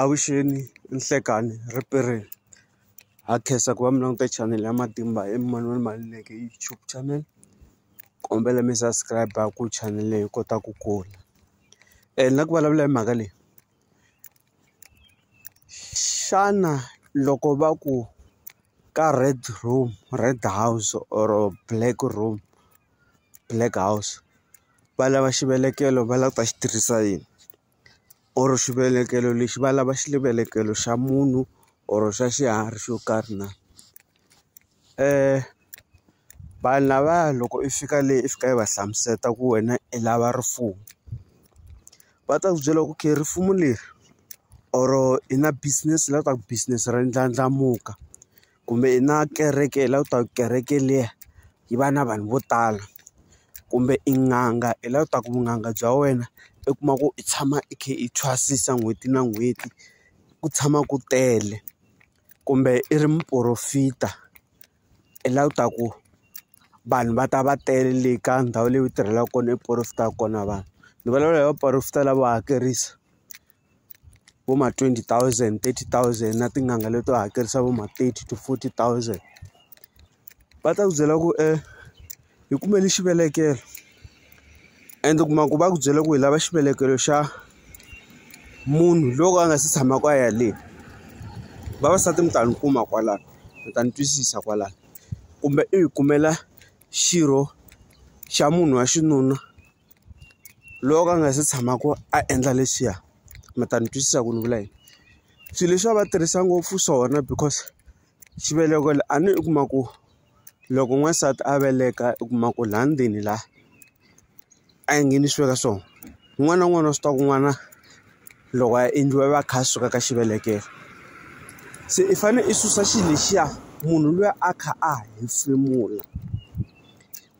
Avuxeni nhlikani ripere ha khensa ku va mi languta chanele ya matimba i Manuel Maluleke YouTube channel kombela mi subscribe ku chanele leyi yi kota ku kula ni la ku vulavula hi mhaka leyi xana loko va ku ka red room red house or black room black house va lava xivelekelo va lava ku ta xi tirhisa yini. or xivelekelo lexi va lava xivelekelo xa munhu or xa xiharhi xo karhi na. Vanhu lavaya loko i fika le i fika i va hlamusela ku wena i lava rifuwo, va ta ku byela ku okay rifuwo leri or i na business la ku business ra ndlandlamuka. kumbe i na kereke i lava ku ta ku kereke liya yi va na vanhu vo tala kumbe i n'anga i lava ku ta ku vun'anga bya wena i kuma ku i tshama i kha i thwasisa n'hweti na n'hweti ku tshama ku tele kumbe i ri muporofita i lava ku ta ku vanhu va ta va tele le ka ndhawu leyi u tirhelaka kona i porofitaka kona vanhu ni vulavula hi vaporofeta lavo hakerisa. vo ma twenty thousand thirty thousand na tin'anga leto hakerisa vo ma thirty to forty thousand va ta ku byela ku e hi kumele xivelekelo ende u kuma ku va ku byele ku hi lava xivelekelo xa munhu loko a nga si tshamaka a ya le vavasati mi ta ni kuma kwalano mi ta ni twisisa kwalano kumbe i hi kumela xirho xa munhu wa xinuna. loko a nga se tshamaka a endla leswiya mi ta ni twisisa ku ni vula yini swilo leswi a va tirhisa ngopfu swona because xiveleko a ni u kuma ku loko n'wansati a veleka u kuma ku laha ndzeni la a yi nghenisiwi ka swona un'wana na un'wana wa swi tiva ku n'wana loko a endliwa i va a kha a suka ka xivelekelo se i fanele i susa xilo lexiya munhu luya a kha a hefemula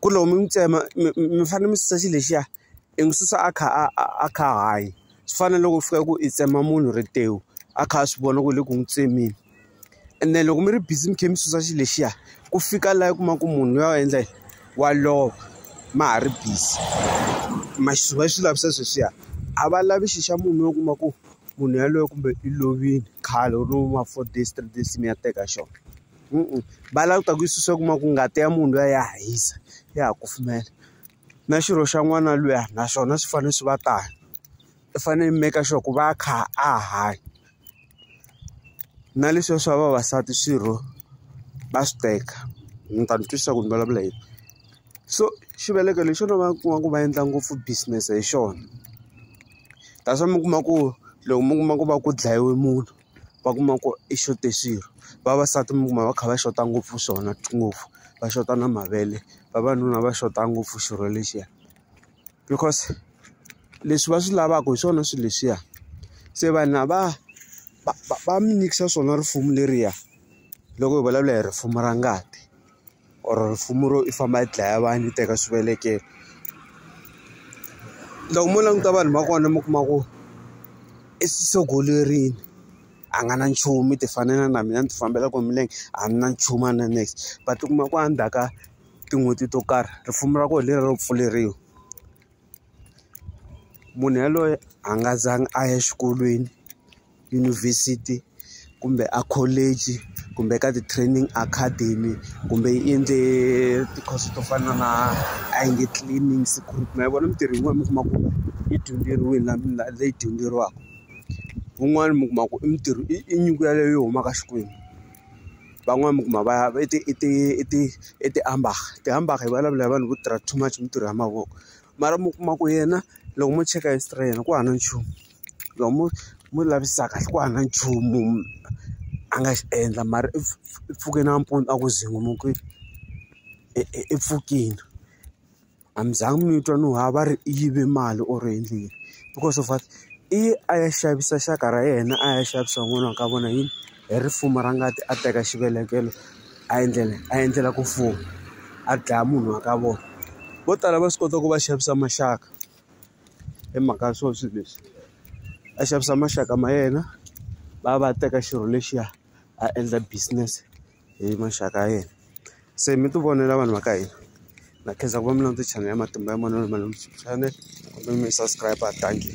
ku ri loko mi n'wi tsema mi mi fanele mi susa xilo lexiya i n'wi susa a kha a a a kha a hanya. Swi fana na loko ku fika ku i tsema munhu rimbewu, a kha a swi vona ku ri le ku n'wi tsemeni. Ene loko mi ri busy mi kha mi susa xilo lexiya, ku fika laha u kuma ku munhu luya u endla yini? Wa lova ma ha ri busy. Ma swi va swi lavisa sweswiya, a va lavi xilo xa munhu u kuma ku munhu yaloye kumbe i lovile khale or vo ma four days, three days mi ya teka xona. va lava ku ta ku yi susa u kuma ku ngati ya munhu luya ya ha hisa ya ha kufumela na xirho xa n'wana luya na swona swi fanele swi va tano i fanele i make sure ku va a kha a hanya na leswiya swa vavasati swirho va swi teka ni ta ni twisisa ku ni vulavula yini so xiveleko lexi xona va kuma ku va endla ngopfu business hi xona that's why mi kuma ku loko mi kuma ku va ku dlayiwe munhu va kuma ku i xothe xirho vavasati mi kuma va kha va xota ngopfu swona ngopfu va xota na mavele vavanuna va xota ngopfu xirho lexiya because leswi va swi lavaka hi swona swilo leswiya se vanhu lava va va mi nyikisa swona risimu leriya loko hi vulavula hi risimu ra ngati. or rifumo ro i famba i dlaya vanhu i teka swivelekelo loko mo languta vanhu va kona mi kuma ku i swisogolerini a nga na nchumu i ti fanela na mina ni ti fambela ku milenge a ni na nchumu a na next va ti kuma ku a ndzhaku ka tin'hweti to karhi rifumo ra kona hi leriya ro pfuleriwa munhu yaloye a nga zanga a ya exikolweni. yunivhesiti kumbe a college kumbe ka ti-training academy kumbe yi endle tikhoso to fana na a yi nge cleaning security ma yi vona mintirho yin'wana mi kuma ku yi dyondzeriwile na na leyi dyondzeriwaka wun'wani mi kuma ku i mintirho i i nyiko yaleyo yi humaka Xikwembu van'wani mi kuma va ya i ti i ti i ti i ti-amber-a ti-amber-a hi vulavula hi vanhu vo tirha too much mintirho ya mavoko mara mi kuma ku yena loko mo cheka history ya yena ku hava na nchumu. loko mo mo lavisaka ku hava nchumu a nga xi endla mara i pfuke nampundzu a ku zunguluke i pfukile a mi za mi twa no ha va ri i yive mali or yini because of what i ye a ya xavisa xaka ra yena a ya xavisa n'wana wa ka vona yini hi ri fumo ra ngati a teka xivelekelo a endlela a endlela ku fuma a dlaya munhu wa ka vona vo tala va swi kota ku va xavisa maxaka. hi mhaka ya swona swilo leswi a xavisa maxaka ma yena va ya va ya teka xirho lexiya a endla business hi maxaka ya yena se mi ti vonela vanhu va ka hina na khensa ku va mi landza channel ya matimba ya manana malume channel kumbe mi subscribe thank you.